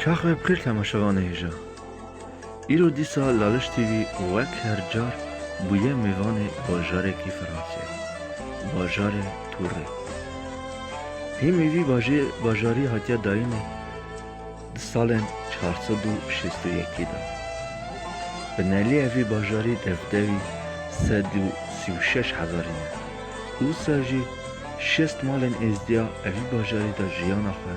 Çax me bi xêr temaşe vane hêja. Îro dîsa Laliş TV wek her car bûye mêvanê bajarekî Fransayê, bajarê Tûrê. Hê mî vî bajê bajarî hatiye dayîne di salên çar sed û şêst û yekî de. Bi nelîye vî bajarî devdewî sed û sî û şeş hezarî ye. Usa jî şêst malên êzdiya evî bajarî de jiyana xwe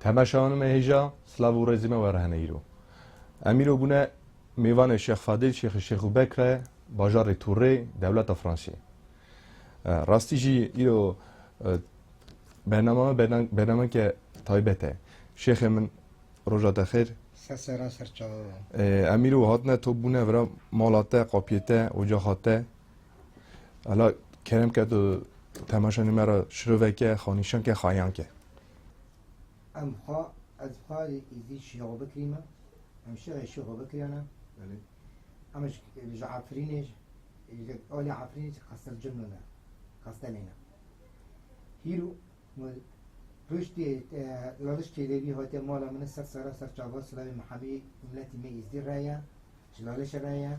Temeşawan me hêja silav û rêzê me were hene îro. Em îro bûne mêvanê Şêx Fadil Şêxê Şêx û Bekr e bajarê Tûrê dewleta Fransê. Rastî jî îro bernama me bernameke taybet e. Şêxê min roja te xêr. Sesera serçawe be. Em îro hatine top bûne vira mala te, qapiyê te, ocaxa te. Hala kerem ke tu temaşanê me ra şiroveke, xanîşanke, xayanke. Em xwe ez xwarê êzî şêxo bikirîme, em şêxê şêxo bikirîyane. Belê. Em ji ji Efrînê ji alê Efrînê ji Qestel Cimno ne. Qestelê ne. Hîro me piştê Laliş Çêlêbî hate mala min ser sera ser çava silavê Mihemî miletî me êzdî reye, ji Lalişê reye.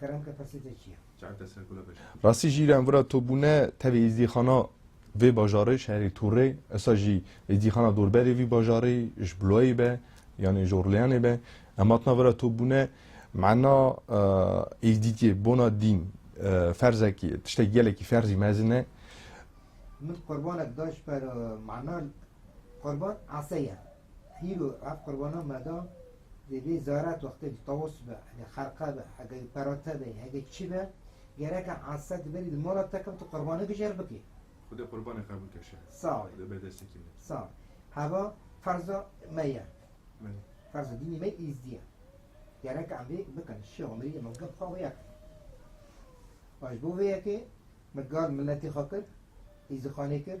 Kerem kapasite çi ye? Rastî jî îran vira topbûne tevî êzdîxana vê bajarê şerê Tûrê esa jî êzdîxana dorberê vî bajarê ji Bulawê be yanê ji Orleanê be em hatina vira topbûne mena êzdîtiyê bona dîn ferzekî tiştekî gelekî ferzî mezin e. Min qurbanek da ji ber mena qurban ese ye. Hîro ev qurbana me da, divê zarat wextê bi tawus be, hege xerqa be, hege perate be, hege çi be, gereke esa di berî di mala te kevt û qurbane bi jêr bikê. Xuda qurbanê qebûl ke şer. Sağ ol. Xuda berdeste kî min. Sağ ol. Heva ferza me ye. Belê. Ferza dînê me îzdî ye. Gereke em vê bikin. Şêx û mirî me gef xwe wê ye kir. Ji bo vê yekê me gal miletê xwe kir, îzdîxanê kir,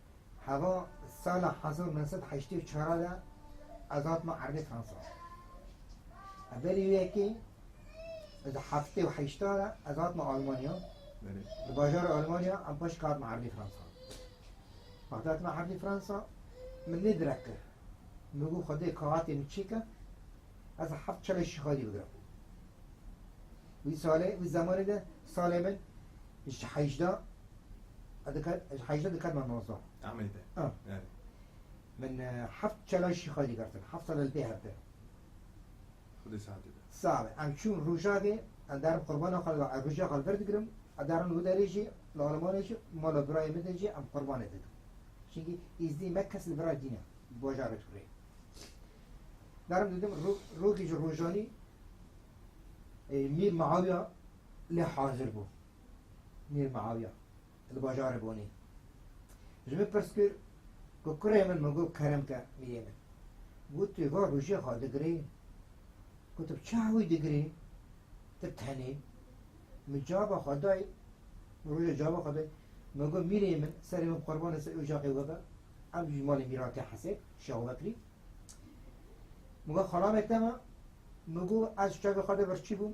Heva sala hezar û neh sed û heştê û çar de ez hatim erdê Fransa. Berî wê yekê di heftê û heşta de ez hatim Almanya. Di bajarê Almanya em paşê ke hatim erdê Fransa. Wextê hatim erdê Fransa min nê direk kir. Min got Xwedê ka hatê min çêke ez heft çalê şixalî bigirim. Wî salê wî zemanê de salê min Ji heyjda ji heyjda dikar me nozda. Ameyî de. Erê. Min heft çelay şîxay digertin. Heft sal li pê hev de. Xwedê saetê de. Sabe. Em çûn Rojavê, em derin qurbana xwe li Rojava xwe li vir digirin. Em derin wi derê jî li Almanyayê jî mala birayê min de jî em qurbanê dikin. Çinkî îzdî me kes li birayê dîne di bajarê Turê. Derin didim rogê ji rojanî Mîr Miawiya lê hazir bû Mîr Miawiya li bajarê Bonê ji min pirs kir ku kurê min min got kerem ke mîrê min. Got tu va rojê xwe digirê? Got tu bi çi hewî digirê? Tu tenê? Min cava xwe dayê min rojê cava xwe dayê min got mîrê min serê min qurban li ser ocaqê we be ev ji malê mîran tê hesê Şeho Bekrî min got xalamê te me min got ez çavê xwe de birçî bûm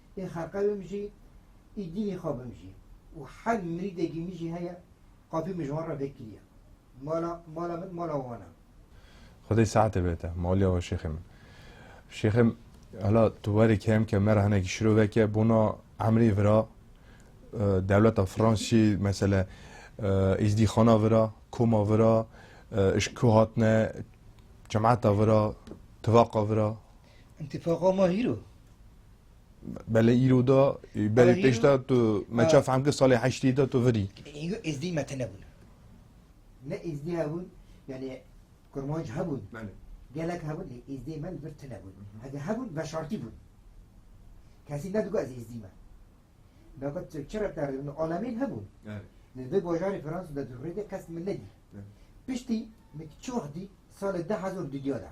Ê xelqe bimijî, ê dînê xwe bimijî û her mirîdekî min jî heye qafî min ji wan re vekiriye. Mala mala min mala wan e. Xwedê sehetê bête maliya we şêxê min. Şêxê hela tu werê kêm ke me re hinekî şirovek e bona emrê vira dewleta Fransî mesele êzdîxana vira, koma vira, ji ku hatine cemata vira, tivaqa vira, Întifaqa ma hîro. Belê îro da belê pêş da tu me çav hem ki salê heştî da tu virî. Îro êzdî me tine bûn. Ne êzdî hebûn yani kurmanc hebûn. Gelek hebûn lê êzdê me li vir tine bûn. Hege hebûn veşartî bûn. Kesî ne digot ez êzdî me. Nakat çira te rêvin alemên hebûn. Li vê bajarê Fransa de rêde kes min nedî. Piştî min çax dî salê de hezar dudya da.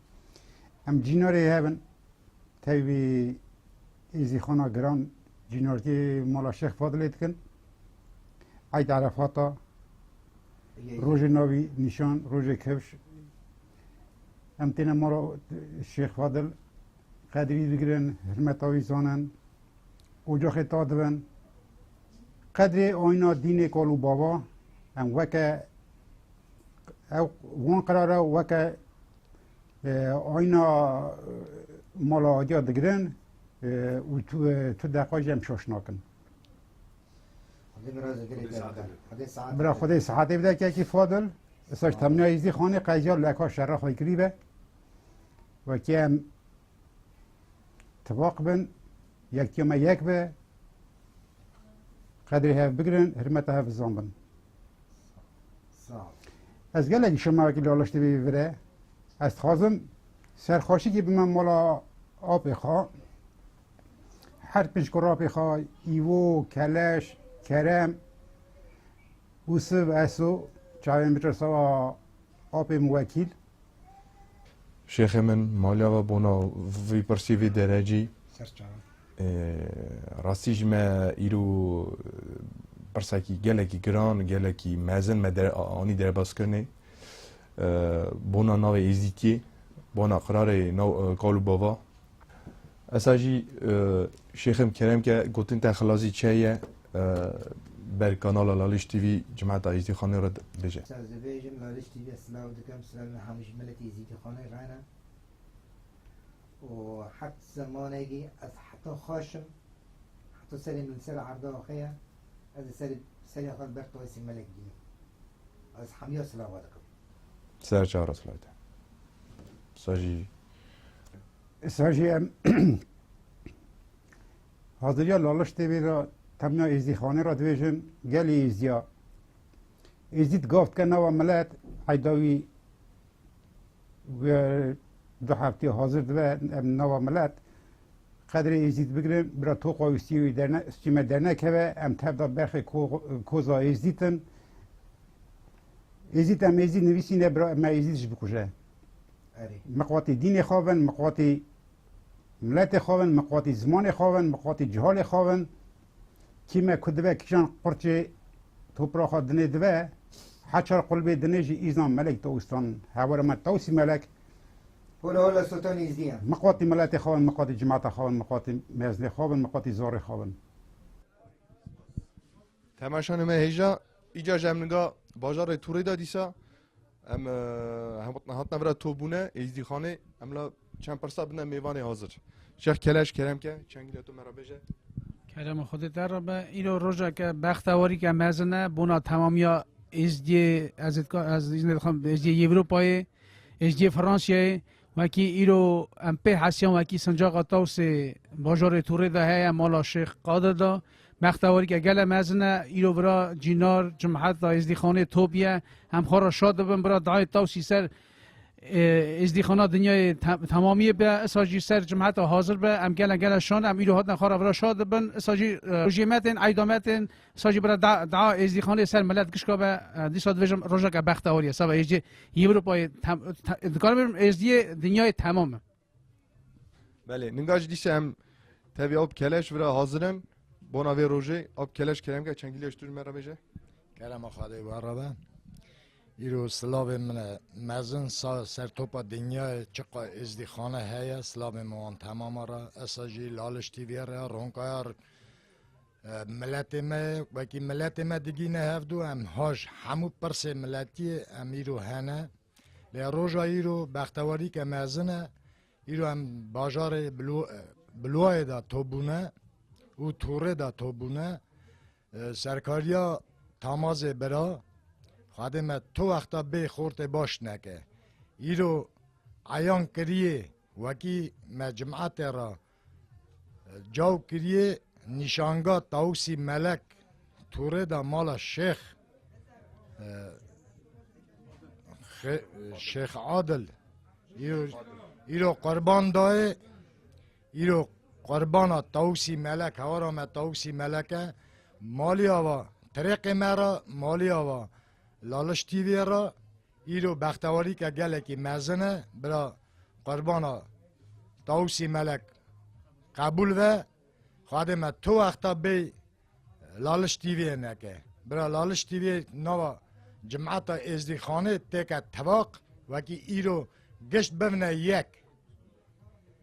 Em cînorê hev in. Tevî vî êzîxana giran cînorkê mala Şêx Fadilê dikin. Eyd Erefata, rojê navî nîşan, rojê kevş. Em têne mala Şêx Fadil qedrî digirin, hirmeta wî zanin, ocaxê ta dibin. Qedrê ayna dînê kal û bava em weke Ew wan qirara weke ayna mala adiya digirin û tu tu deqa jî em şaş nakin. Bila xwedê saetê bide kekî fadil saç temniya îzdî xanê qeziya li eka şerra xwe kirî be wekî em tivaq bin yekîya me yek be qedrê hev bigirin hirmeta hev bizan bin. Ez gelek şemavekî laliş divî vire. Ez dixwazim serxweşikî bime mala apê xwe. Her pinc kurapê xwe îvo, keleş, kerem û siv eso çavên biçe sewa apê min wekîl. Şêxê min maliya ve bona vî pirsî vî derecî. Rastî ji me îro pirsekî gelekî giran, gelekî mezin me anî derbazkirinê. Bona navê Êzîtiyê, bona qirarê nav Kalûbava Esa jî Şêxim Kerem ke gotin te xilazî çe ye ber kanala Laliş TV cimeta Êzîdîxanê re bêje. Saz dibêjim Laliş TV re silav dikim, silav me hemû ji miletê Êzîdîxanê re ne û heft zemanekî ez heta xweşim heta serê min li ser erda xwe ye ez li serê xwe li ber tayê Sêmelek bînim ez hemiya silava dikim. Sar çar aslayte. Sajî. Sajî em haziriya laliş tê vêra temna êzdîxanê ra dibêjin gelê êzdiya. Êzdî gav dike nava milet heyda wî du heftê hazir dibe em nava milet qedrê êzdî bigirin bira toqa wî stî wî derne stîme dernekeve em tevda berxê koza êzdîtin Êzîd em Êzîd nivîsîne bira me Êzîd ji bikuje. Miqwatî dînê xwe bin, miqwatî miletê xwe bin, miqwatî zimanê xwe bin, miqwatî cihalê xwe bin. Kî me ku dibe kîjan qurçê topra xwe dinê dibe, heçar qulbê dinê jî îzan melek dawîstan hewara me dawîsî melek. Hola hola sotan Êzîdî ye. Miqwatî miletê xwe bin, miqwatî cimata xwe bin, miqwatî mezinê xwe bin, miqwatî zorê xwe bin. Temaşa nime hêja îca ji em niga bajarê Tûrê de dîsa em hatna vira topbûne êzdîxanê em la çend pirsa bine mêvanê hazir. Şex Keleş Keremke çengîle tu me re bêje. Kerem xudê te re be îro rojeke bextewarîke mezin e bona temamiya êzdiyê ez êzdiyê Êzdiyê Yewropayê êzdiyê Fransiyayê Wekî îro em pê hesiyan wekî sincaxa Tawsê bajarê Tûrê de heye mala Şêx Qadir de. Bextewarîke gele mezin e. Îro bira Cînar Cumhet da Êzdîxanê Top ye. Em xwe re şad dibin bira dayê Tawsî ser êzdîxana dinyayê temamiyê be isa jî ser cumheta hazir be em gele gele şan em îro hatine xwe re vira şad dibin isa jî rojê me tên eyda me tên Sa jî bira dua êzdîxanê li ser milet gişka be, dîsa dibêjim rojeke bexte horiye seba êzdî Ewropayê dikarim bêjim êzdiyê dinyayê temam e. Belê ninga jî dîsa em tevî ew bi keleş vira hazir in bona vê rojê ew bi keleş keremke çengîlê ji tu ji me re bêje. Kerema xwe dê were be. Îro silavên min e mezin sa ser topa dinyayê çiqa êzdîxane heye silavên min wan temam e re. Esa jî Laliş TV'ye re ya Ronkayar Miletê me wekî miletê me digîne hevdû em hoj hemû pirsê miletiyê em îro hene lê roja îro bextewarîke mezin e îro em bajarê bilwayê da tobûne û tûrê da tobûne serkariya tamazê bira xadê me tu wexta bê xortê baş neke îro eyan kiriyê wekî me cimetê ra Caw kiriye nîşanga Tawusî Melek Tûrê de mala Şêx Şêx Adil îro qurban dayê îro qurbana Tawusî Melek hewara me Tawusî Meleke maliya va Tirêqê me ra maliya va Laliş TV'ye ra Îro bextewarîke gelekî mezin e bira qurbana Tawusî Melek qebûl ve xwedê me tu wexta bêy Laliş TV'yê neke. Bira Laliş TV'yê nava Cimeta Êzdîxanê têke tevaq wekî îro gişt bivne yek.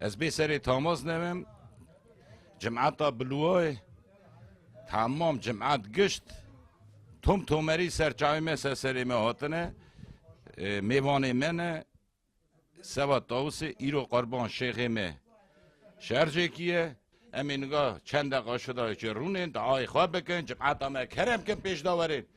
Ez bê serê Tamaz nevim, cimata Bilwayê, tamam cimat gişt, tom tomerî ser çavê me ser serê me hatine, mêvanê me ne, Sebat Tawusê, îro qurban şêxê me şercekî ye, em ê niga çend deqa şida çê rûnên, diayê xwe bikin, cimata me kerem bikin pêşda werin.